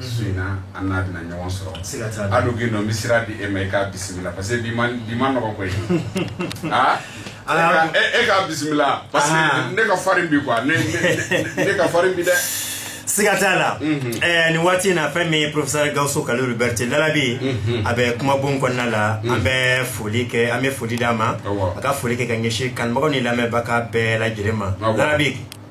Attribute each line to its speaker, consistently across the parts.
Speaker 1: su in na an n'a bɛna ɲɔgɔn sɔrɔ hali k'i nɔ misira di e ma i k'a bisimila parce que bi man nɔgɔ koyi aa e k'a bisimila parce que ne ka farin bi quoi ne ka farin bi dɛ siga t'a
Speaker 2: la nin waati in na fɛn min ye professeur Gawusu Kalilu Berete Lalabi a bɛ kumabon kɔnɔna la an bɛ foli kɛ an bɛ foli d'a ma a ka foli kɛ ka ɲɛsin kanubagaw ni lamɛnbaga bɛɛ lajɛlen ma Lalabi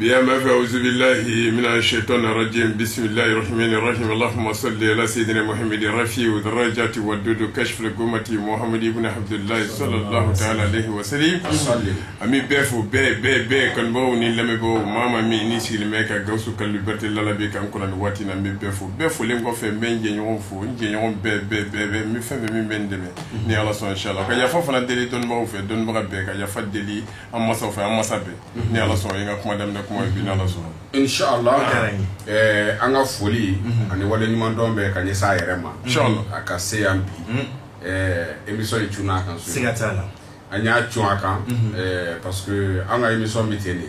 Speaker 2: Bi an b'a
Speaker 3: fɔ auzubillahi mina shaytani rajim bisimilahi rahmani rahim allahuma sali ala sayidina Muhamadi rafiu darajati wadudu kashifu l-gumati Muhamadu ibn Abdullah salallahu taala alayhi wa salim an bɛ bɛɛ fo bɛɛ bɛɛ bɛɛ kanubaw ni lamɛnbaw maa maa minnu sigilen bɛ ka Gawusu Kalilu Berete Lalabi kan kɔnɔ waati na an bɛ bɛɛ fo bɛɛ folen kɔfɛ n bɛ jɛɲɔgɔn fo n jɛɲɔgɔn bɛɛ bɛɛ bɛɛ min bɛ n fɛ min bɛ n dɛmɛ ni ala sɔnna inshallah ka yafa fana deli dɔnnibaw fɛ dɔnnibaga bɛɛ ka yafa deli an masaw fɛ an masa bɛɛ ni ala sɔnna n ka kuma daminɛ kuma ye bi ni ala sɔnna inshallah O diyara
Speaker 1: n ye. ɛɛ an ka foli ani wale ɲuman dɔn bɛ ka ɲɛsin a yɛrɛ ma Inshallah. a ka se
Speaker 3: yan bi
Speaker 1: ɛɛ émission in cunna a kan so siga t'a la an
Speaker 2: y'a cun
Speaker 1: a kan ɛɛ parce que an ka émission bɛ ten de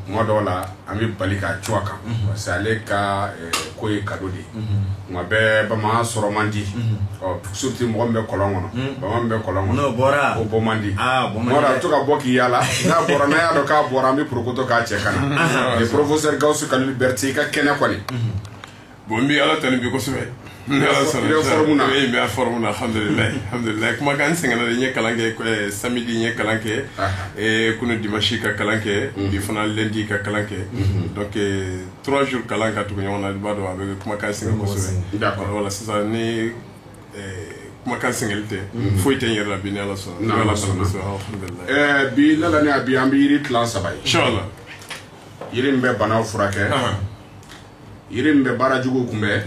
Speaker 1: tuma dɔw la an bɛ bali k'a cun a kan parce que ale ka ko ye cadeau de ye mɔgɔ bɛ bama sɔrɔ man di surtout mɔgɔ bɛ kɔlɔn kɔnɔ bama bɛ kɔlɔn kɔnɔ bɔra o bɔ man
Speaker 2: di
Speaker 1: bɔra to ka
Speaker 2: bɔ k'i yaala
Speaker 1: n'a bɔra n'a y'a dɔn k'a bɔra an bɛ porokoto k'a cɛ ka na professeur Gawusu Kalilu Berete i ka kɛnɛ kɔni bon n
Speaker 3: bɛ ala tanu bi kosɛbɛ n kumakan sɛgɛnna n ye kalan kɛ samedi n ye kalan kɛ kunun dimanche ka kalan kɛ bi fana lundi ka kalan kɛ trois jours kalan ka tugu ɲɔgɔn na i b'a dɔn a bɛ kumakan sɛgɛn kosɛbɛ voilà sisan ni kumakan sɛgɛnlen tɛ foyi tɛ n yɛrɛ la bi ni ala sɔnna
Speaker 1: alhamdulillah bi Lalabi an bɛ yiri tila saba
Speaker 3: ye inshallah yiri
Speaker 1: min bɛ banaw furakɛ yiri min bɛ baara jugu kunbɛn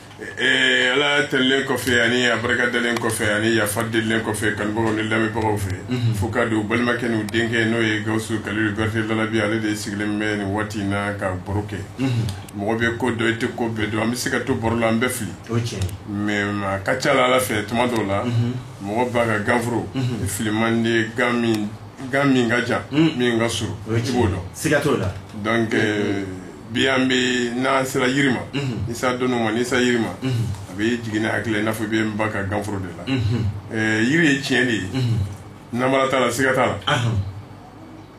Speaker 3: Ala tanulen kɔfɛ ani a barika dalen kɔfɛ ani yafa delilen kɔfɛ kanubagaw ni lamɛnbagaw fɛ f'u k'a dɔn balimakɛ n'u denkɛ n'o ye Gawusu Kalilu Berete Lalabi ale de sigilen bɛ nin waati in na ka baro kɛ mɔgɔ bɛ ko dɔn i tɛ ko bɛɛ dɔn an bɛ se ka to baro la an bɛ fili mais maa ka ca ala fɛ tuma dɔw la mɔgɔ ba ka ganforo fili man di min ka jan min ka surun
Speaker 2: i b'o dɔn la
Speaker 3: bi an bɛ n'an sera yiri ma n'i sera dɔnni ma n'i sera yiri ma a bɛ jigin ne hakili la i n'a fɔ n bɛ n ba ka ganforo de la yiri ye tiɲɛ de ye nanbara t'a la siga t'a la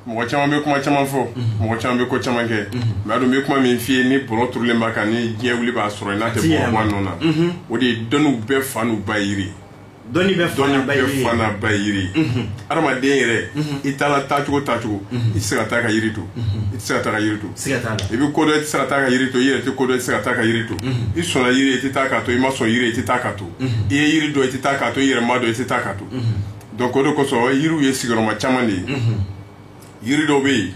Speaker 3: mɔgɔ caman bɛ kuma caman fɔ mɔgɔ caman bɛ ko caman kɛ maa dun bɛ kuma min f'i ye ni bɔlɔ turulen b'a kan ni diɲɛ wuli i b'a sɔrɔ n'a tɛ bɔ a nɔ na o de ye dɔnniw bɛɛ fa n'u ba yiri dɔnni
Speaker 2: bɛɛ fa n'a ba ye dɔnni bɛɛ fa n'a ba ye
Speaker 3: yiri adamaden yɛrɛ i taara taacogo taacogo i se ka taa ka yiri to i se ka taa ka yiri to i bɛ ko dɔn i se ka taa ka yiri to i yɛrɛ tɛ ko dɔn i se ka taa ka yiri to i sɔnna yiri i tɛ taa k'a to i ma sɔn yiri i tɛ taa k'a to i ye yiri dɔn i tɛ taa k'a to i yɛrɛ ma dɔn i tɛ taa k'a to donc o de kosɔn yiriw ye sigiyɔrɔma caman de ye yiri dɔ bɛ yen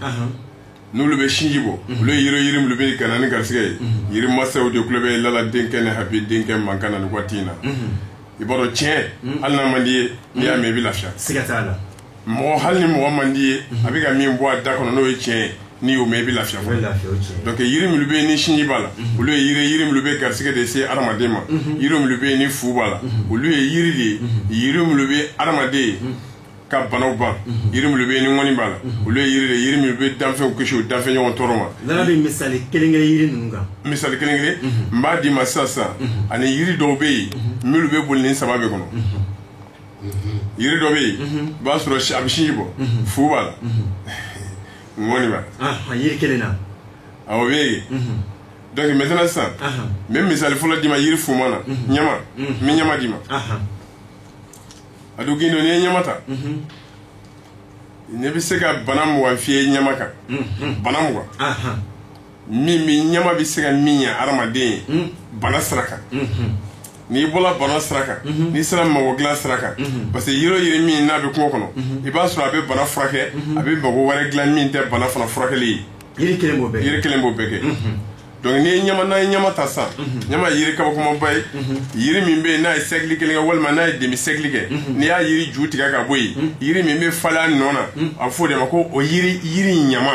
Speaker 3: n'olu bɛ sinji bɔ olu ye yiri ye min bɛ ka na ni garisɛgɛ ye yiri masaw de tulo bɛ lala denkɛ ni habi denkɛ mankan na nin waati in na i b'a dɔn tiɲɛ hali n'a man d'i ye n'i y'a mɛ i bɛ lafiya
Speaker 2: mɔgɔ hali
Speaker 3: ni mɔgɔ man d'i ye a bɛ ka min bɔ a da kɔnɔ n'o ye tiɲɛ ye n'i y'o mɛ i bɛ lafiya donc yiri minnu bɛ yen ni sinji b'a la olu ye yiri ye yiri minnu bɛ garisɛgɛ de se adamaden ma yiri minnu bɛ yen ni fu b'a la olu ye yiri de ye yiri minnu bɛ adamaden ka banaw ban yiri minnu bɛ yen ni ŋɔni b'a la olu ye yiri de ye yiri minnu bɛ danfɛnw kisi u danfɛnɲɔgɔn tɔɔrɔ ma Lala bɛ misali
Speaker 2: kelen kelen yiri ninnu kan misali kelen kelen
Speaker 3: n b'a d'i ma sisan sisan ani yiri dɔw bɛ yen minnu bɛ boli nin saba bɛɛ kɔnɔ yiri dɔ bɛ yen i b'a sɔrɔ si- a bɛ sinji bɔ fu b'a la ŋɔni b'a la Ah, yiri kelen na
Speaker 2: awɔ o bɛ yen
Speaker 3: donc maintenant sisan Aha. n bɛ misali fɔlɔ d'i ma yiri fuman na ɲama n bɛ ɲama d'i ma Aha. a don gindon n'i ye ɲama ta ne bɛ se ka bana mugan f'i ye ɲama kan bana mugan min bi ɲama bɛ se ka min ɲɛ hadamaden ye bana sira kan n'i bɔra bana sira kan n'i sera mago dilan sira kan parce que yiri o yiri min n'a bɛ kungo kɔnɔ i b'a sɔrɔ a bɛ bana furakɛ a bɛ mago wɛrɛ dilan min tɛ bana fana furakɛli ye yiri kelen b'o bɛɛ kɛ yiri
Speaker 2: kelen b'o bɛɛ kɛ
Speaker 3: donc n'i ye ɲama n'an ye ɲama ta sa ɲama ye yiri kabakomaba ye yiri min bɛ yen n'a ye siècle kelen kɛ walima n'a ye demi siècle kɛ n'i y'a yiri ju tigɛ ka bɔ yen yiri min bɛ falen a nɔ na a bɛ fɔ o de ma ko o yiri ɲama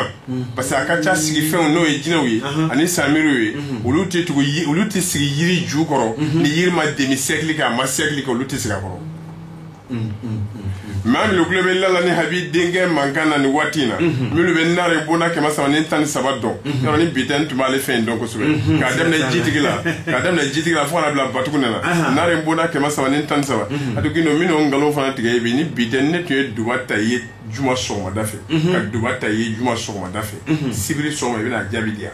Speaker 3: parce que a ka ca sigifɛnw n'o ye jinɛw ye ani sanbiriw ye olu tɛ sigi yiri ju kɔrɔ ni yiri ma demi siècle kɛ a ma siècle kɛ olu tɛ sigi a kɔrɔ maa minnu tulo bɛ lala ni habi denkɛ mankan na nin waati in na minnu bɛ nare bonda kɛmɛ saba ni tan ni saba dɔn yɔrɔ ni bi tɛ n tun b'ale fɛn in dɔn kosɛbɛ k'a daminɛ jitigi la k'a daminɛ jitigi la fo ka n'a bila batugu ne la nare bonda kɛmɛ saba ni tan ni saba a tun don minnu nkalon fana tigɛ bi ni bi tɛ ne tun ye duba ta i ye juma sɔgɔmada fɛ ka duba ta i ye juma sɔgɔmada fɛ sibiri sɔgɔma i bɛna jaabi di yan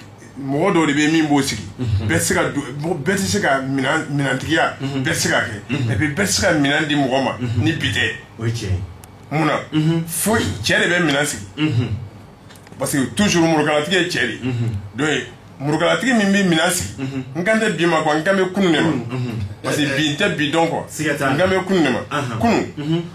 Speaker 3: mɔgɔ dɔw de bɛ min b'o sigi bɛɛ tɛ se ka du- mɔgɔ- bɛɛ tɛ se ka minan- minantigiya bɛɛ tɛ se ka kɛ et puis bɛɛ tɛ se ka minan di mɔgɔ ma ni bi tɛ o ye tiɲɛ ye mun na fo cɛ de bɛ minan sigi parce que toujours murukalatigi ye cɛ de ye donc murukalatigi min bɛ minan sigi n kan tɛ bi ma quoi n kan bɛ kunun de ma parce que bi n tɛ bi dɔn quoi Siga t'a la. n kan bɛ kunun de ma Ahan. kunun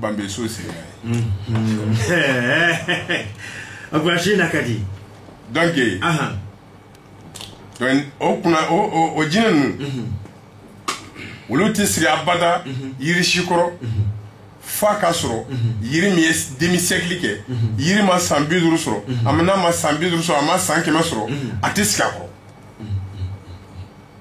Speaker 3: banso
Speaker 2: sera a ko se na ka di donc
Speaker 3: o tuma o jinɛ ninnu olu tɛ sigi abada yiri si kɔrɔ f'a ka sɔrɔ yiri min ye demi-siècle kɛ yiri ma san bi duuru sɔrɔ a n'a ma san bi duuru sɔrɔ a ma san kɛmɛ sɔrɔ a tɛ sigi a kɔrɔ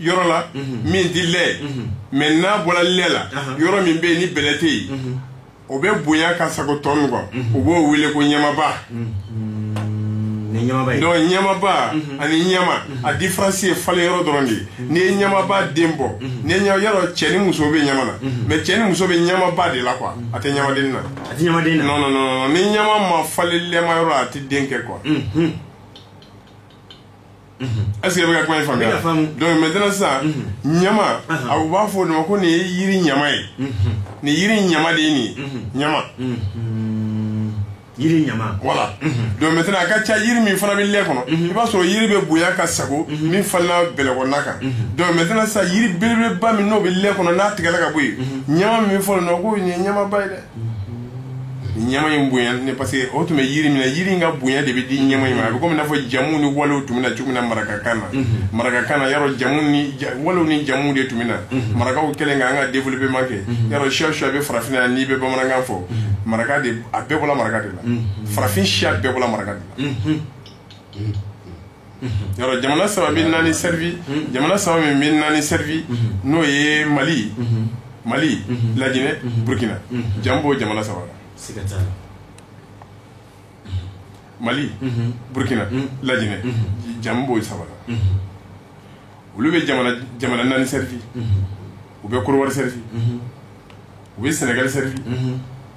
Speaker 3: yɔrɔ la min tɛ lɛ mais n'a bɔra lɛ la yɔrɔ min bɛ yen ni bɛlɛ tɛ yen o bɛ bonya ka sago tɔ min kɔ u b'o wele ko ɲamaba donc ɲamaba ani ɲama a différence ye falen yɔrɔ dɔrɔn de ye n'i ye ɲamaba den bɔ n'i ye yɔrɔ cɛ ni muso bɛ ɲama na mais cɛ ni muso bɛ ɲamaba de la quoi a tɛ ɲamaden na a tɛ ɲamaden na non non non ni ɲama ma falen lɛma yɔrɔ a tɛ den kɛ quoi est ce que i bɛ ka kuma in faamuya donc maintenant sisan ɲama a b'a fɔ o ma ko nin ye yiri ɲama ye nin yiri ɲama de ye nin ɲama
Speaker 2: voilà
Speaker 3: donc a ka ca yiri min fana bɛ lɛ kɔnɔ i b'a sɔrɔ yiri bɛ bonya ka sago min falenna bɛlɛkɔnɔna kan donc sisan yiri belebeleba min n'o bɛ lɛ kɔnɔ n'a tigɛla ka bɔ yen ɲama min bɛ fɔ ko nin ye ɲamaba ye dɛ ɲama in bonya ne parce que o tun bɛ yiri min na yiri in ka bonya de bɛ di ɲama in ma a bɛ komi i n'a fɔ jamu ni walew tun bɛ na cogo min na marakakan na mhm. marakakan na yɔrɔ jamu ni walew ni jamu de tun bɛ na mhm. marakaw kɛlen ka an ka développement kɛ mhm. yɔrɔ siya siya bɛ farafinna n'i bɛ bamanankan fɔ maraka de a bɛɛ bɔla maraka de la farafin siya bɛɛ bɔla maraka de la yɔrɔ jamana saba bɛ naani servi jamana saba min bɛ naani servi n'o ye mali mali laginɛ burukina jamu b'o jamana saba la mali burukina laginɛ jamu b'o saba olu bɛ jamana naani servi u bɛ côte d'ivoire servi u bɛ sénégal servi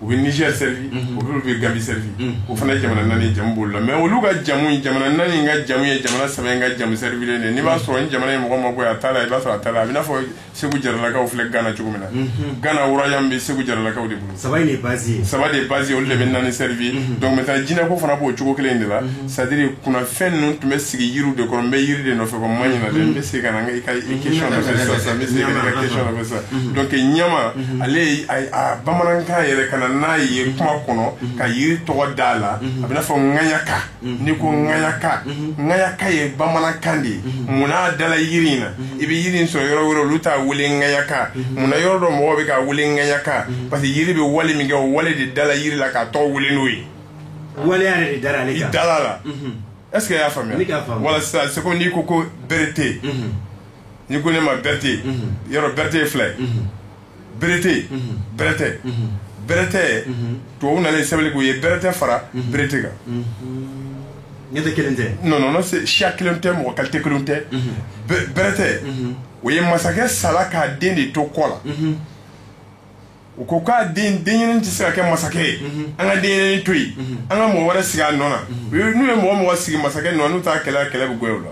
Speaker 3: u bɛ niger servi olu bɛ gambie servi o fana ye jamana naani ye jamu b'olu la mais olu ka jamu jamana naani in ka jamu ye jamana saba in ka jamu servilen de n'i b'a sɔrɔ ni jamana ye mɔgɔ ma bɔ a ta la i b'a sɔrɔ a ta la a bɛ n'a fɔ segu jaralakaw filɛ gana cogo min na mhm. gana royaume bɛ segu jaralakaw de bolo saba de base
Speaker 2: saba de base olu de bɛ naani servi
Speaker 3: mhm. donc maintenant jinɛko fana b'o cogo kelen de la mhm. c'est à dire kunnafɛn ninnu tun bɛ sigi yiriw de kɔrɔ n bɛ yiri de nɔfɛ ko ma ɲina dɛ n bɛ se ka na n ka question nɔfɛ sisan sisan n bɛ se ka na n ka question nɔfɛ sisan donc ɲama ale a bamanankan yɛrɛ ka na n'a ye kuma kɔnɔ ka yiri tɔgɔ d'a la a bɛ n'a fɔ ŋaɲaka n'i ko ŋayaka ŋayaka ye bamanankan de ye munna a dala yiri in na i bɛ yiri in sɔrɔ yɔrɔ wɛrɛ olu t'a wele ŋayaka munna yɔrɔ dɔ mɔgɔw bɛ k'a wele ŋayaka parce que yiri bɛ wale min kɛ o wale de dala yiri la k'a tɔgɔ wele n'o ye waleya
Speaker 2: yɛrɛ de dara ale i kan dala
Speaker 3: la est ce que i y'a faamuya Ne k'a faamu. voilà sisan c'est comme n'i ko ko berete n'i ko ne ma berete yɔrɔ berete ye fila ye berete bɛrɛtɛ bɛrɛtɛ tubabu nalen sɛbɛnni k'u ye bɛrɛtɛ fara berete
Speaker 2: kan ne tɛ kelen tɛ non c'est siya
Speaker 3: kelen tɛ mɔgɔ kalite kelen tɛ bɛrɛtɛ o ye masakɛ sala k'a den de to kɔ la u ko k'a denɲɛrɛnin tɛ se ka kɛ masakɛ ye an ka denɲɛrɛnin to yen an ka mɔgɔ wɛrɛ sigi a nɔ na n'u ye mɔgɔ mɔgɔ sigi masakɛ nɔ n'u taa kɛlɛ kɛlɛ bɛ goya u la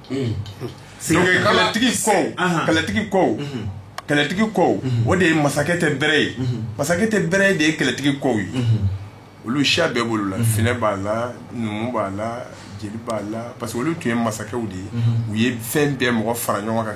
Speaker 3: kɛlɛtigi kɔ kɛlɛtigi kɔ kɛlɛtigi kɔ o de ye masakɛ tɛ bɛrɛ ye masakɛ tɛ bɛrɛ ye de ye kɛlɛtigi kɔ ye olu siya bɛɛ b'olu la finɛ b'a la numu b'a la jeli b'a la parce que olu tun ye masakɛw de ye u ye fɛn bɛɛ mɔgɔ fara ɲɔgɔn kan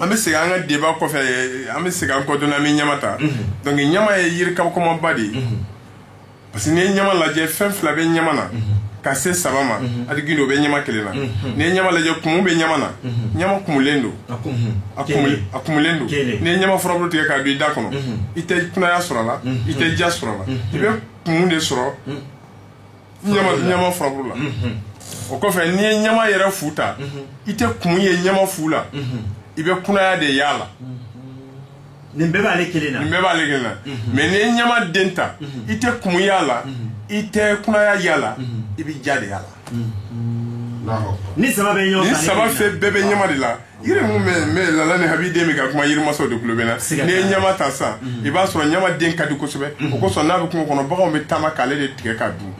Speaker 3: an bɛ segin an ka débat kɔfɛ an bɛ segin an kɔ dɔɔnin an bɛ ɲama ta donc ɲama ye yiri kabakomaba de ye parce que n'i ye ɲama lajɛ fɛn fila bɛ ɲama na ka se saba ma hali gindo bɛ ɲama kelen na n'i ye ɲama lajɛ kumu bɛ ɲama na ɲama kumulen don a kumulen don n'i ye ɲama furabulu tigɛ k'a don i da kɔnɔ i tɛ kunaya sɔrɔ a la i tɛ ja sɔrɔ a la i bɛ kumu de sɔrɔ ɲama furaburu la o kɔfɛ n'i ye ɲama yɛrɛ fu ta i tɛ kumu ye ɲama fu la i bɛ kunaya de y'a la
Speaker 2: nin bɛɛ b'ale kelen na nin bɛɛ b'ale kelen na mais
Speaker 3: n'i ye ɲama den ta i tɛ kumu y'a la i tɛ kunaya y'a la i bɛ ja de y'a la
Speaker 2: nin saba bɛɛ bɛ
Speaker 3: ɲama de la yiri mun bɛ mais Lala ni Habi den bɛ ka kuma yirimasaw de tulo bɛ na Siga n'i ye t'a la. ɲama ta sisan i b'a sɔrɔ ɲama den ka di kosɛbɛ o kosɔn n'a bɛ kungo kɔnɔ baganw bɛ taama k'ale de tigɛ k'a dun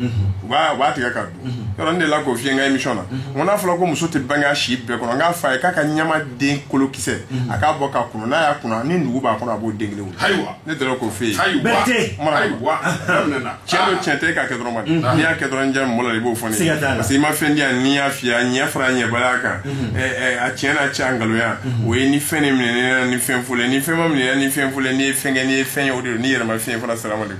Speaker 3: u b'a u b'a tigɛ k'a dun yɔrɔ ne delila k'o f'i ye n ka émission na n ko n'a fɔra ko muso tɛ bange a si bɛɛ kɔnɔ n k'a fɔ a ye k'a ka ɲama den kolokisɛ a k'a bɔ k'a kunun n'a y'a kunun ni nugu b'a kɔnɔ a b'o den kelen wolo ayiwa Ne dɔrɔn k'o f'i ye cɛn cɛn tɛ k'a kɛ dɔrɔn ma n'i y'a kɛ dɔrɔn ja mɔn i b'o fɔ parce que i ma fɛn di yan n'i y'a fɔ a ɲɛ fara a ɲɛbaliya kan a cɛ n'a cɛ nkalonya o ye ni fɛn ni minɛ ni fɛn fo ni fɛn ma minɛ ni fɛn fo n'i ye fɛn kɛ n'i ye fɛn ye o n'i yɛrɛ fiɲɛyɛn fana sira de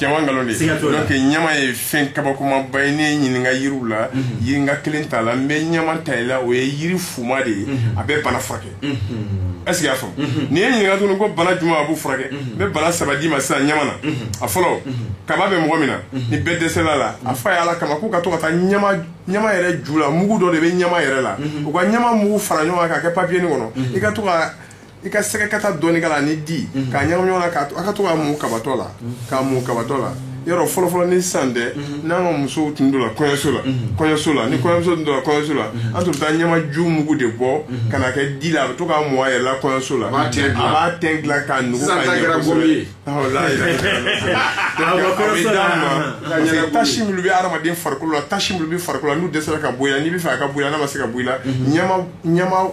Speaker 3: nkalon de ɲama ye fɛn kabakomaba ye ne ɲininka yiri la yiri n ka kelen t'a la n bɛ ɲama ta i la o ye yiri fuma de ye a bɛ bana furakɛ est-ce que i y'a faamu n'i ye n ɲininka tuguni ko bana juma a b'u furakɛ n bɛ bana saba d'i ma sisan ɲama na a fɔlɔ kaba bɛ mɔgɔ min na ni bɛɛ dɛsɛla a la a f'a ye Ala kama k'u ka to ka taa ɲama yɛrɛ ju la mugu dɔ de bɛ ɲama yɛrɛ la u ka ɲama mugu fara ɲɔgɔn kan k'a kɛ papiyenin kɔnɔ i ka to ka i ka sɛgɛkata dɔɔni k'a la ni di k'a ɲagami ɲɔgɔn na k'a to a ka to ka mun kabatɔ la k'a mun kabatɔ la yɔrɔ fɔlɔfɔlɔ ni sisan tɛ n'an ka musow tun donna kɔɲɔso la kɔɲɔso la ni kɔɲɔmuso tun donna kɔɲɔso la an tun bɛ taa ɲamaju mugu de bɔ ka na kɛ di la a bɛ to k'a mun a yɛrɛ la kɔɲɔso la b'a tɛn dilan. a b'a tɛn dilan k'a nugu Sisan ka ta ɲɛ kɛra kosɛbɛ. gomi ye. Awɔ, la, la, la, la, la. Donc, Awɔ, a bɛ kɔɲɔso d'a la. ma. Ka Parce que ɲɛnabɔ. tasi minnu bɛ hadamaden farikolo la tasi minnu bɛ farikolo la n'u dɛsɛra ka bɔ i la n'i bɛ fɛ a ka bɔ i la n'a ma se ka bɔ i la ɲama ɲama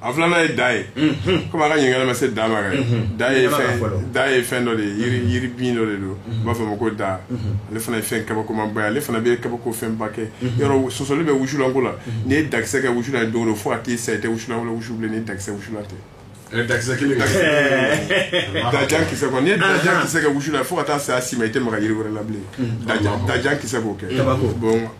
Speaker 2: a filanan
Speaker 3: ye da ye komi a ka ɲininkali ma se da ma da ye da ye fɛn dɔ de ye yiri bin dɔ de don u b'a fɔ a ma ko da ale fana ye fɛn kabakomaba ye ale fana bɛ kabako fɛn ba kɛ yɔrɔ sɔsɔli bɛ wusulanko la n'i ye dakisɛ kɛ wusulan ye don o don fo ka t'i sa i tɛ wusulan wɛrɛ wusu bilen ni dakisɛ wusulan tɛ da da kisɛ n'i ye dakisɛ kɛ wusu la fo ka taa saya s'i ma i tɛ maga jiri wɛrɛ la bilen da kisɛ b'o kɛ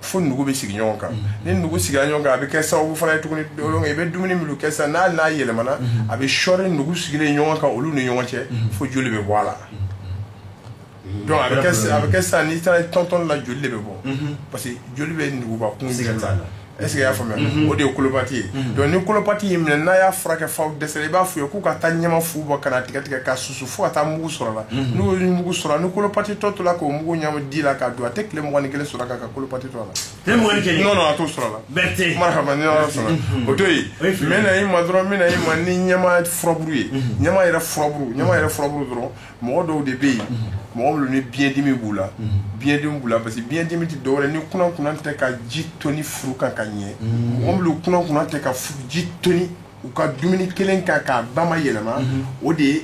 Speaker 3: fo nugu bɛ sigi ɲɔgɔn kan ni nugu sigila ɲɔgɔn kan a bɛ kɛ sababu fana ye tuguni i bɛ dumuni minnu kɛ sisan n'a yɛlɛmana a bɛ sɔɔri nugu sigilen ɲɔgɔn kan olu ni ɲɔgɔn cɛ fo joli bɛ bɔ a la donc a bɛ kɛ sisan n'i taara tɔntɔn la joli de bɛ bɔ parce que joli bɛ nuguba kun la est-ce que i y'a faamuya o de ye colopathie ye donc ni colopathie y'i minɛ n'a y'a furakɛ fo a dɛsɛra i b'a fɔ u ye k'u ka taa ɲama fu bɔ k'a tigɛ tigɛ k'a susu fo ka taa mugu sɔrɔ a la mhm. n'u ye mugu sɔrɔ ni colopathie tɔ tola k'o mugu ɲami di la k'a dun a tɛ tile mugan ni kelen sɔrɔ k'a ka colopathie to a la. tile mugan ni kelen. non non
Speaker 2: a t'o sɔrɔ a la.
Speaker 3: Berté. marahaba ni
Speaker 2: ala sɔnna
Speaker 3: mhm. o to yen. o ye fili ye. n bɛ na i ma dɔrɔn n bɛ na i ma ni ɲama furaburu ye. Mhm. ɲama yɛrɛ furaburu ɲama yɛrɛ furaburu dɔrɔn mɔgɔ dɔw de bɛ yen. mɔgɔ minnu ni biyɛndimi b'u la. biyɛndimi b'u la parce que biyɛndimi tɛ dɔwɛrɛ ni kunankunan tɛ ka ji toni furu kan ka ɲɛ. mɔgɔ minnu kunankunan tɛ ka ji toni. u ka dumuni kɛlen kan k'a ba ma yɛlɛma o de ye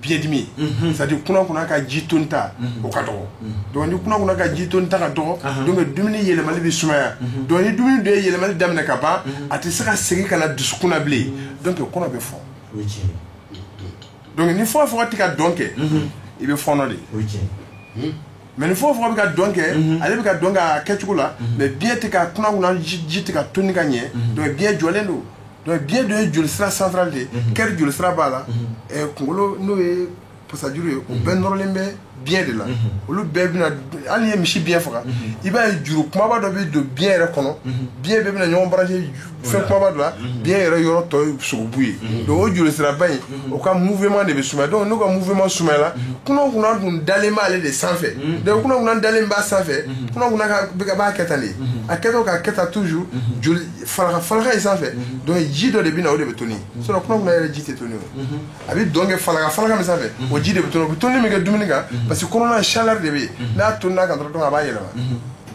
Speaker 3: biyɛndimi c'est-à-dire kunankunan ka ji tonita o ka dɔgɔ donc ni kunankunan ka ji tonita ka dɔgɔ donc dumuni yɛlɛmali bɛ sumaya donc ni dumuni dun ye yɛlɛmali daminɛ ka ban a tɛ se ka segin ka na dusukun na bilen donc kɔnɔ bɛ fɔ donc ni fɔgɔfɔgɔ tɛ ka dɔn kɛ i bɛ fɔɔnɔ de mais ni fɔgɔfɔgɔ bɛ ka dɔn kɛ ale bɛ ka dɔn kɛ a kɛcogo la mais biɲɛ tɛ ka kunankunan ji tɛ ka toni ka ɲɛ biɲɛ jɔlen don biɲɛ dun ye jolisira central de ye cœur jolisira b'a la kunkolo n'o ye pasajuru ye u bɛɛ nɔrɔlen bɛ biɲɛ de la olu bɛɛ bɛna hali n'i ye misi biɲɛ faga i b'a ye juru kumaba dɔ bɛ don biɲɛ yɛrɛ kɔnɔ biɲɛ bɛɛ bɛ na ɲɔgɔn brancher fɛn kumaba dɔ la biɲɛ yɛrɛ yɔrɔ tɔ ye sogobu ye donc o jolisiraba in o ka mouvement de bɛ sumaya donc n'o ka mouvement sumayala kunankunan dun dalen b'ale de sanfɛ donc kunankunan dalen b'a sanfɛ kunankunan ka bɛ ka b'a kɛ tan de a kɛtɔ k'a kɛ tan toujours joli falaka falaka in sanfɛ donc ji dɔ de bɛ na o de bɛ toni sinon kunankunan yɛrɛ ji tɛ toni o a bɛ dɔn kɛ falaka falaka min sanfɛ o ji de bɛ toni o bɛ toni min kɛ dumuni kan parce que kɔnɔna chaleur de bɛ yen n'a tonina a kan dɔrɔn donc a b'a yɛlɛma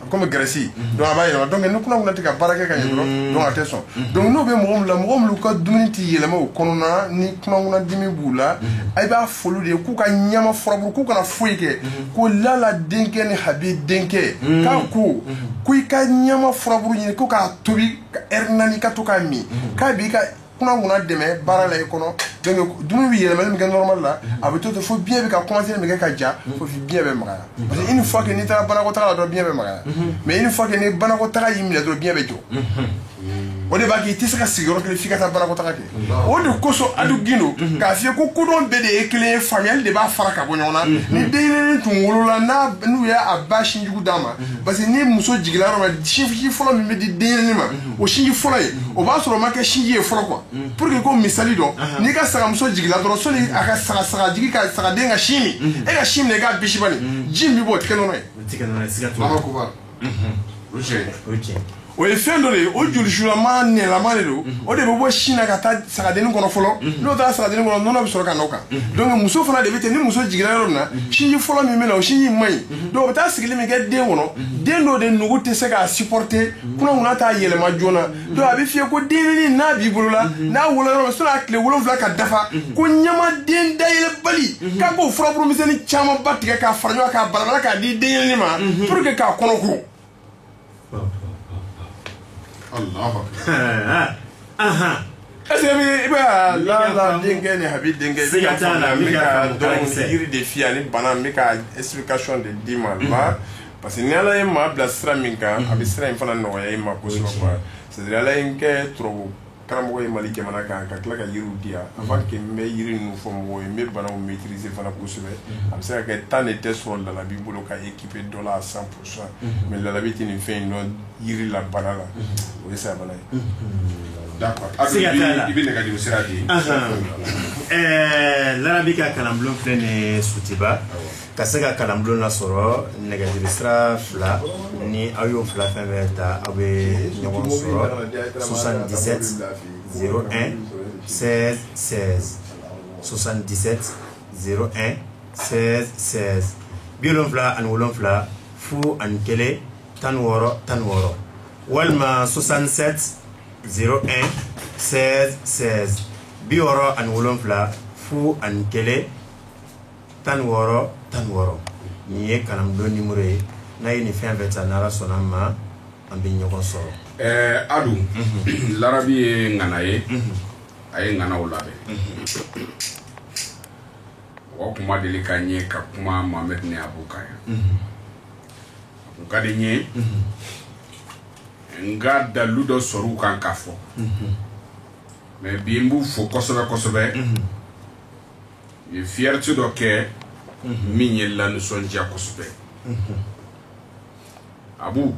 Speaker 3: comme graisse donc a b'a yɛlɛma donc ni kunankunan tɛ ka baara kɛ ka ɲɛ dɔrɔn donc a tɛ sɔn donc n'o bɛ mɔgɔ min la mɔgɔ minnu ka dumuni tɛ yɛlɛma o kɔnɔna ni kunankunan dimi b'u la a b'a f'olu de ye k'u ka ɲama furaburu k'u kana foyi kɛ ko lala denkɛ ni habi denkɛ k'a ko ko i ka ɲama furaburu ɲini ko k'a tobi ka ɛri naani ka to k'a min k'a b'i ka kunankunan dɛmɛ baara la i kɔnɔ donc dumuni bɛ yɛlɛmali min kɛ normal la a bɛ to ten fo biɲɛ bɛ ka commencer min kɛ ka ja fo biɲɛ bɛ magaya parce que une fois que n'i taara banakɔtaga la dɔrɔn biɲɛ bɛ magaya mais une fois que ni banakɔtaga y'i minɛ dɔrɔn biɲɛ bɛ jɔ o de b'a kɛ i tɛ se ka sigi yɔrɔ kelen f'i ka taa banakɔtaga kɛ o de kosɔn adu gindo k'a f'i ye ko kodɔn bɛɛ de ye kelen ye faamuyali de b'a fara ka bɔ ɲɔgɔn na ni denyɛrɛnin tun wolola n'a n'u y'a ba sinjugu d'a ma parce que ni muso jiginna yɔrɔ min na sinji fɔlɔ min bɛ di denyɛrɛnin ma o sinji fɔlɔ ye o b'a sɔrɔ o ma kɛ sinji ye fɔlɔ quoi pour que ko misali dɔ n'i ka sagamuso jigila dɔrɔn sɔni a ka saga saga jigi ka sagaden ka sin min e ka sin minɛ i k'a bisi bani ji min bɛ bɔ o tɛ kɛ nɔnɔ ye o ye fɛn dɔ de ye o jolisulama nɛlama de don o de bɛ bɔ sin na ka taa sagadennin kɔnɔ fɔlɔ n'o taara sagadennin kɔnɔ nɔnɔ bɛ sɔrɔ ka n'o kan donc muso fana de bɛ ten ni muso jiginna yɔrɔ min na sinji fɔlɔ min bɛ na o sinji man ɲi donc o bɛ taa sigili min kɛ den kɔnɔ den dɔ de nugu tɛ se k'a supporter kunankunan t'a yɛlɛma joona donc a b'a f'i ye ko denyɛrɛnin n'a b'i bolo la n'a wolo yɔrɔ min sɔnni a tile wolonwula ka dafa ko ɲamaden dayɛlɛbali k'a k'o furaburu misɛnnin camanba tigɛ k'a fara ɲɔgɔn k'a balabala k'a di denyɛrɛnin ma pour que k'a kɔnɔ ko. Parce que i bɛ lala denkɛ ni habi denkɛ yiri de f'i ye ani bana n bɛ ka explication de d'i ma parce que ni ala ye maa bila sira min kan a bɛ sira in fana nɔgɔya i ma ala ye n kɛ karamɔgɔ ye mali jamana kan ka tila ka yiriw di yan avant n bɛ yiri ninnu fɔ mɔgɔw ye n bɛ bana maîtriser fana kosɛbɛ a bɛ se ka kɛ temps de tɛ sɔrɔ larabi bolo ka équiper dɔ la cent pour cent mais larabi tɛ nin fɛn in dɔn yiri la bana la o
Speaker 1: ye saya bana ye i bɛ nɛgɛjuru sira
Speaker 2: di larabi ka kalanbulon filɛ ni sutiba ka se ka kalanbulon lasɔrɔ nɛgɛjuru sira fila ni aw y'o fila fɛn fɛn ta aw bɛ ɲɔgɔn sɔrɔ soixante-dix-sept zéro un seize seize soixante-dix-sept zéro un seize seize bi wolonwula ani wolonwula fu ani kelen tan wɔɔrɔ tan wɔɔrɔ walima soixante-sept zéro un seize seize bi wɔɔrɔ ani wolonwula fu ani kelen tan wɔɔrɔ tan wɔɔrɔ nin ye kalanbulon numéro ye n'a ye nin fɛn fɛn ta n'ala sɔnn'a ma an bɛ ɲɔgɔn sɔrɔ ɛɛ
Speaker 1: adu larabi ye ŋana ye a ye ŋanaw labɛn mɔgɔ kuma deli ka ɲɛ ka kuma mohamed ni abu kan yan u ka di n ye n ka dalu dɔ sɔrɔ u kan ka fɔ mais bi n b'u fo kosɛbɛ kosɛbɛ u ye fierté dɔ kɛ min ye lanisɔndiya kosɛbɛ abu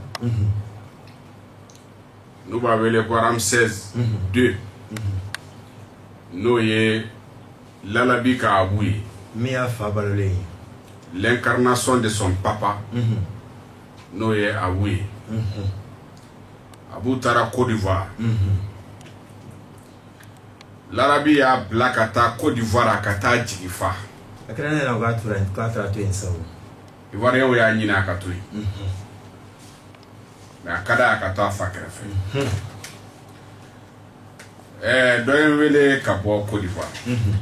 Speaker 1: n'u b'a wele ko Ramsès deux n'o ye larabi ka abu ye min y'a fa
Speaker 2: balolen ye
Speaker 1: l'incarnation de son papa n'o ye abu ye abu taara Côte d'Ivoire larabi y'a bila ka taa Côte d'Ivoire a ka taa jigi fa a kɛra ne ɲɛ na
Speaker 2: k'a taara to yen sa ivoirienw y'a
Speaker 1: ɲinin a ka to yen nka a ka d'a ye a ka to a fa kɛrɛfɛ ɛɛ dɔ ye n wele ka bɔ Côte d'Ivoire unhun,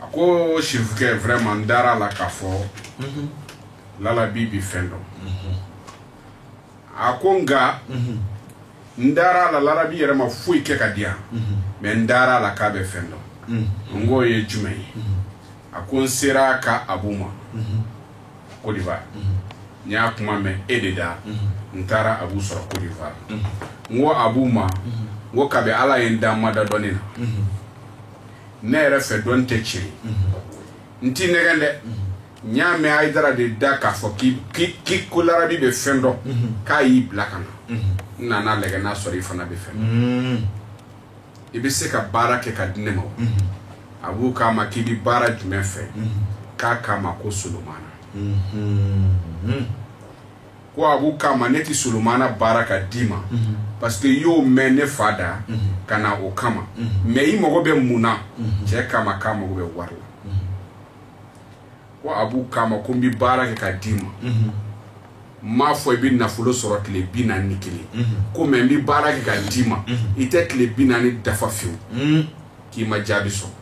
Speaker 1: a ko chefukɛ vraiment n dara a la k'a fɔ, unhun, larabi bɛ fɛn dɔn, unhun, a ko nka, unhun, n dara a la larabi yɛrɛ ma foyi kɛ ka di yan, unhun, mais n dara a la k'a bɛ fɛn dɔn, unhun, n k'o ye jumɛn ye? a ko n sera ka abu ma Côte d'Ivoire n y'a kuma mɛn e de da n taara abu sɔrɔ Côte d'Ivoire n ko abu ma ko kabi ala ye n da n ma da dɔnni na ne yɛrɛ fɛ dɔnni tɛ tiɲɛ n t'i nɛgɛn dɛ n y'a mɛn hayidara de da k'a fɔ k'i ko larabi bɛ fɛn dɔn k'a y'i bila ka na n nana lajɛ n'a sɔrɔ i fana bɛ fɛn i bɛ se ka baara kɛ ka di ne ma wa abu k'a ma k'i bɛ baara jumɛn fɛ k'a k'a ma ko solomana ko abu k'a ma ne tɛ solomana baara ka d'i ma parce que i y'o mɛn ne fa da ka na o kama mais i mago bɛ mun na cɛ k'a ma k'a mago bɛ wari la ko abu k'a ma ko n bɛ baara kɛ ka d'i ma n m'a fɔ i bɛ nafolo sɔrɔ tile bi naani ni kelen ko mais n bɛ baara kɛ ka d'i ma i tɛ tile bi naani dafa fiyewu k'i ma jaabi sɔrɔ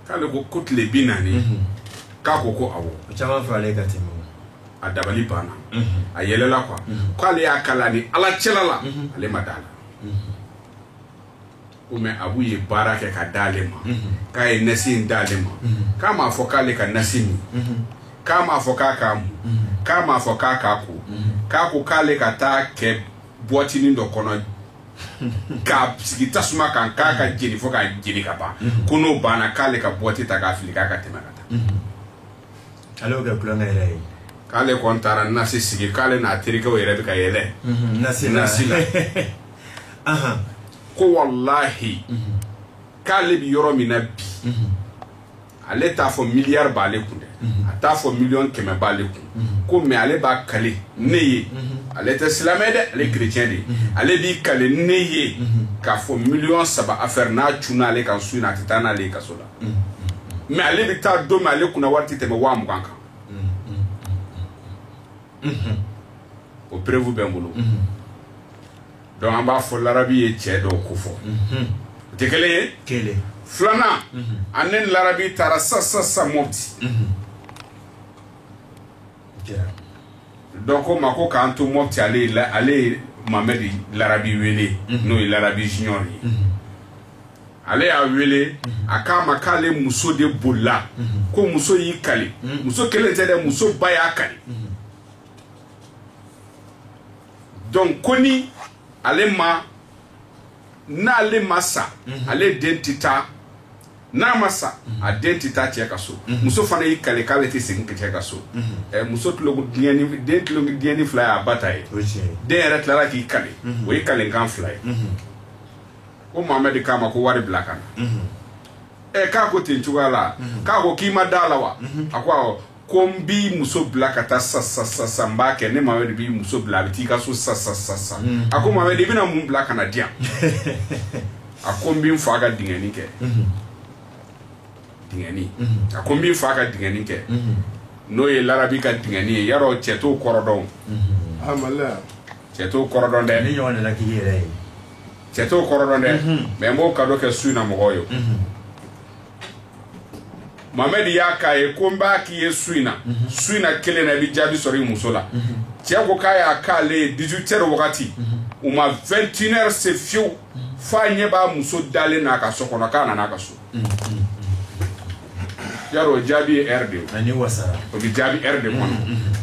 Speaker 1: k'ale ko ko tile bi naani k'a ko ko awɔ o caman fɛ ale
Speaker 2: ka tɛmɛ a dabali
Speaker 1: banna a yɛlɛla quoi k'ale y'a kala ni ala cɛla la ale ma d'a la ko mais abu ye baara kɛ ka d'ale ma k'a ye nasi in d'ale ma k'a m'a fɔ k'ale ka nasi min k'a m'a fɔ k'a k'a mun k'a m'a fɔ k'a k'a ko k'a ko k'ale ka taa kɛ buwatinin dɔ kɔnɔ k'a sigi tasuma kan k'a ka jeni fo k'a jeni ka ban ko n'o banna k'ale ka buwati ta k'a fili k'a ka tɛmɛ ka taa ale y'o kɛ tulonkɛ
Speaker 2: yɛrɛ ye k'ale kɔni taara
Speaker 1: nasi sigi k'ale n'a terikɛ yɛrɛ bɛ ka yɛlɛ nasi nasi la ko walahi k'ale bɛ yɔrɔ min na bi ale t'a fɔ miliyari b'ale kun dɛ a t'a fɔ miliyɔn kɛmɛ b'ale kun ko mɛ ale b'a kale ne ye ale tɛ silamɛ dɛ ale kerecɛn de ye ale b'i kale ne ye k'a fɔ miliyɔn saba afɛri n'a cunna ale kan su in na a tɛ taa n'ale ye kaso la mɛ ale bɛ taa don min ale kunna wari tɛ tɛmɛ waa mugan kan o perefu bɛ n bolo dɔnku an b'a fɔ larabi ye cɛ dɔ ko fɔ o tɛ kelen ye filanan ani ne larabi taara sa sa sa mɔti dɔn ko ma ko k'an to mɔti ale ye mamɛdi larabi wele n'o ye larabi junior ye ale y'a wele a k'a ma k'ale muso de bolila ko muso y'i kali muso kelen tɛ dɛ muso ba y'a kali dɔnku ko ni ale ma n'ale ma sa ale den tɛ taa n'a ma sa a den tɛ taa cɛ ka so muso fana y'i kale k'ale tɛ segin cɛ ka so muso den ɲɛnin fila y'a ba ta ye den yɛrɛ tilara k'i kale o ye kalekan fila ye ko mamɛdi k'a ma ko wari bila ka na ɛ k'a ko ten cogoya la k'a ko k'i ma da la wa a ko awɔ ko n b'i muso bila ka taa sa sa sa sa n b'a kɛ ne mamɛdi b'i muso bila a bɛ t'i ka so sa sa sa sa a ko mamɛdi i bɛna mun bila ka na di yan a ko n bɛ n fa ka dingɛni kɛ dingɛni a ko n bɛ n fa ka dingɛni kɛ n'o ye larabi ka dingɛni ye yarɔ cɛ t'o kɔrɔ dɔn a maloya cɛ t'o kɔrɔ dɔn dɛ, ni ɲɔgɔn nana k'i yɛrɛ ye, cɛ t'o kɔrɔ dɔn dɛ, unhun, mais n b'o cadeau kɛ su in na mɔgɔw ye, unhun, Mohamɛdi y'a k'a ye ko n b'a k'i ye su in na, unhun, su in na kelen na i bɛ jaabi sɔrɔ i muso la, unhun, cɛ ko k'a y'a k'ale ye 18 heures wagati, unhun, u ma 21 heures se fiyewu, f'a ɲɛ b'a muso dalen na a ka so kɔnɔ k'a nana a ka so. yarɔ o jaabi ye ɛri de ye ani wasara o bɛ jaabi ɛri de kɔnɔ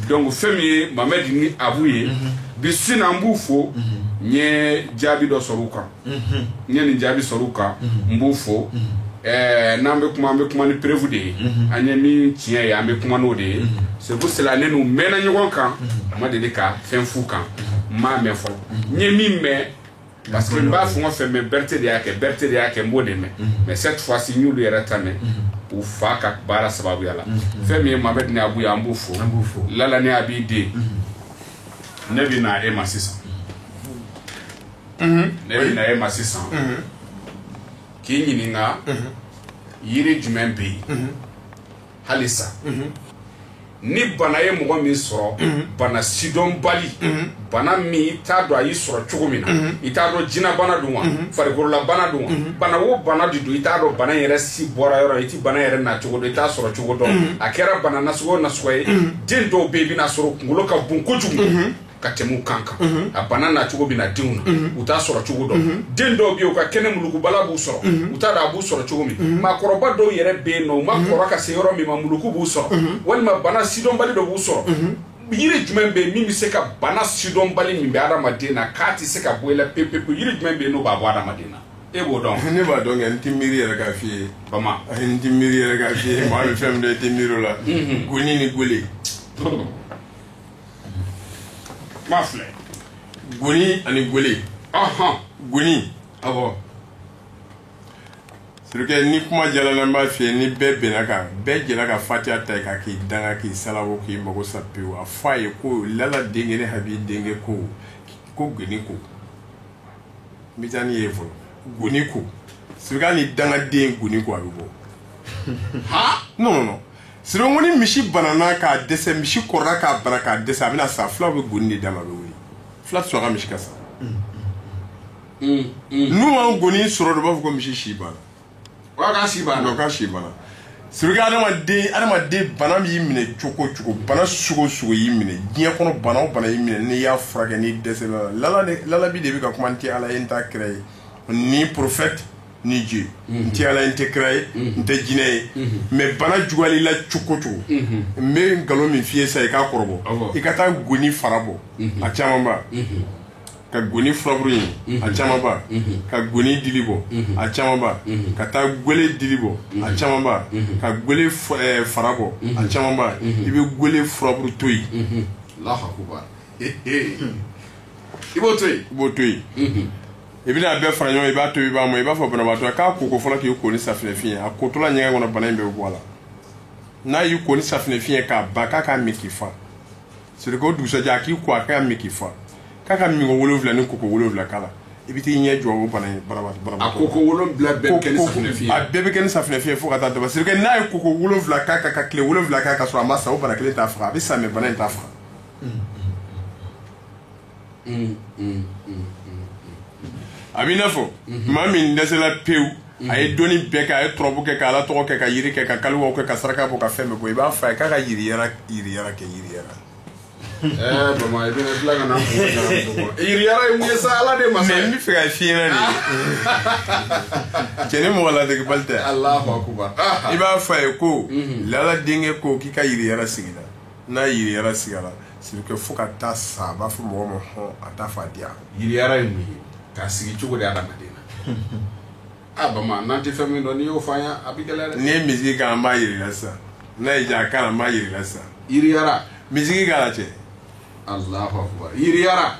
Speaker 1: donc fɛn min ye mamɛdi ni abu ye bi su in na b'u fo n ye jaabi dɔ sɔrɔ u kan n ye nin jaabi sɔrɔ u kan n b'u fo ɛɛ n'an bɛ kuma an bɛ kuma ni perefu de ye an ye min tiɲɛ ye an bɛ kuma n'o de ye c'est pour cela ne n'u mɛnna ɲɔgɔn kan a ma deli ka fɛn f'u kan n m'a mɛn fɔlɔ n ye min mɛn Parce que n b'a fɛn o fɛn mɛn Berete de y'a kɛ Berete de y'a kɛ n b'o de mɛn mais cette fois ci n y'olu yɛrɛ ta mɛn u fa ka baara sababuya la fɛn min ye Mohamed ni Abu ye an b'u fo Lala ni Abi den ne bɛ na e ma sisan ne bɛ na e ma sisan k'i ɲininka yiri jumɛn bɛ yen hali sa ni bana ye mɔgɔ min sɔrɔ bana sidɔnbali bana min i t'a dɔn a y'i sɔrɔ cogo min na i t'a dɔn jinɛbana don wa farikololabana don wa bana o bana de don i t'a dɔn bana yɛrɛ si bɔra yɔrɔ i tɛ bana yɛrɛ na cogo dɔn i t'a sɔrɔ cogo dɔn a kɛra bana nasugu o nasugu ye den dɔw bɛ yen i bɛn'a sɔrɔ kunkolo ka bon kojugu ka tɛmɛ kan kan a bana na cogo bɛ na denw na u t'a sɔrɔ cogo dɔn den dɔw bɛ yen u ka kɛnɛ mulukubana b'u sɔrɔ u t'a dɔn a b'u sɔrɔ cogo min maakɔrɔba dɔw yɛrɛ bɛ yen nɔ u ma kɔrɔ ka se yɔrɔ min ma muluku b'u sɔrɔ walima bana sidɔnbali dɔ b'u sɔrɔ yiri jumɛn bɛ yen min bɛ se ka bana sidɔnbali min bɛ adamaden na k'a tɛ se ka bɔ i la pewu yiri jumɛn bɛ yen n'o b'a bɔ adamaden na e b'o dɔn ne b'a dɔn n tɛ miiri
Speaker 3: yɛrɛ k'a f'i ye bama n tɛ
Speaker 1: miiri yɛrɛ
Speaker 3: k'a f'i ye maa bɛ fɛn min dɔn i tɛ miiri o la goni ni gele
Speaker 1: Ba filɛ
Speaker 3: goni ani gele ɔnhɔn goni awɔ c'est-à-dire que ni kuma jalan na n b'a f'i ye ni bɛɛ bɛnn'a kan bɛɛ jɛra ka fatiya ta i kan k'i danga k'i salabo k'i mago sa pewu a fɔ a ye ko lala denkɛ ne habi denkɛ ko goni ko n bɛ taa n'i ye fɔlɔ goni ko c'est-à-dire que hali ni dangaden goni ko a bɛ bɔ non non non c'est-à-dire que ni misi banana ka dɛsɛ misi kɔrɔla ka bana ka dɛsɛ a bɛna sa fulaw bɛ goni de d'a ma a bɛ wuli fula tɛ sɔn a ka misi ka sa n'u ma goni sɔrɔ dɔrɔn u b'a fɔ ko misi si banna Wa k'a si
Speaker 1: banna. non k'a si
Speaker 3: banna c'est-à-dire que adamaden adamaden bana y'i minɛ cogo o cogo bana sugu o sugu y'i minɛ diɲɛ kɔnɔ bana o bana y'i minɛ n'i y'a furakɛ n'i dɛsɛra a la lala de lalabi de bɛ ka kuma n tɛ ala ye n t'a kira ye ni prophète ni Dieu n tɛ ala ye n tɛ kira ye n tɛ jinɛ ye mais bana juguyal'i la cogo o cogo n bɛ nkalon min f'i ye sa i k'a kɔrɔbɔ i ka taa goni fara bɔ a camanba ka goni furaburu ye a camanba ka goni dili bɔ a camanba ka taa gele dili bɔ a camanba ka gele fara bɔ a camanba i bɛ gele furaburu to yen
Speaker 1: i b'o to yen i b'o to yen
Speaker 3: i bɛna a bɛɛ fara ɲɔgɔn i b'a tobi i b'a mɔ i b'a fɔ banabaatɔ ka koko fɔlɔ k'i ko ni safinɛ fin ye a kotɔla ɲɛgɛn kɔnɔ bana in bɛ bɔ a la n'a y'i ko ni safinɛ fin ye ka ban k'a k'a min k'i fa c'est-à-dire que o dugusajɛ a k'i ko a k'a min k'i fa k'a ka minko wolonwula ni koko wolonwula k'a la i bɛ t'i ɲɛ jɔ o bana in banabaatɔ banabaatɔ a koko
Speaker 1: wolonwula bɛɛ bɛ kɛ ni safinɛ fin ye a bɛɛ bɛ kɛ ni safinɛ fin ye fo
Speaker 3: ka taa dafa c'est-à-dire que n'a ye koko wolonwula kɛ ka tile wolonwula kɛ ka sɔrɔ a ma sa o bana kelen t'a faga a bɛ sa mais bana in t'a faga a b'i n'a fɔ maa min dɛsɛla pewu a ye dɔnni bɛɛ kɛ a ye turabu kɛ ka ala tɔgɔ kɛ ka jiri kɛ ka kaliwa kɛ ka saraka bɔ ka fɛn bɛɛ bɔ i b'a fɔ a ye k'a ka yiriyara kɛ
Speaker 1: sa ala de ma n bɛ fɛ ka si
Speaker 3: de cɛ ni mɔgɔ lade bali tɛ
Speaker 1: i b'a fɔ a ye
Speaker 3: ko lala denkɛ ko k'i ka yiriyara sigi la N'a yiriyara sigira c'est que fo ka taa sa a b'a fɔ
Speaker 1: mɔgɔ
Speaker 3: ma hɔn a
Speaker 1: t'a fɔ
Speaker 3: a
Speaker 1: diya
Speaker 3: yiriyara
Speaker 1: ye
Speaker 3: mun ye k'a sigi cogo
Speaker 1: di adamaden
Speaker 3: na
Speaker 1: a bama n'an tɛ fɛn min dɔn n'i y'o fɔ an ye a bɛ gɛlɛya n'i ye misiki kan an
Speaker 3: b'a jira sa n'a ye ja kan an b'a jira sa yiriyara
Speaker 1: misiki k'a la
Speaker 3: cɛ
Speaker 1: allahu akbar yiriyara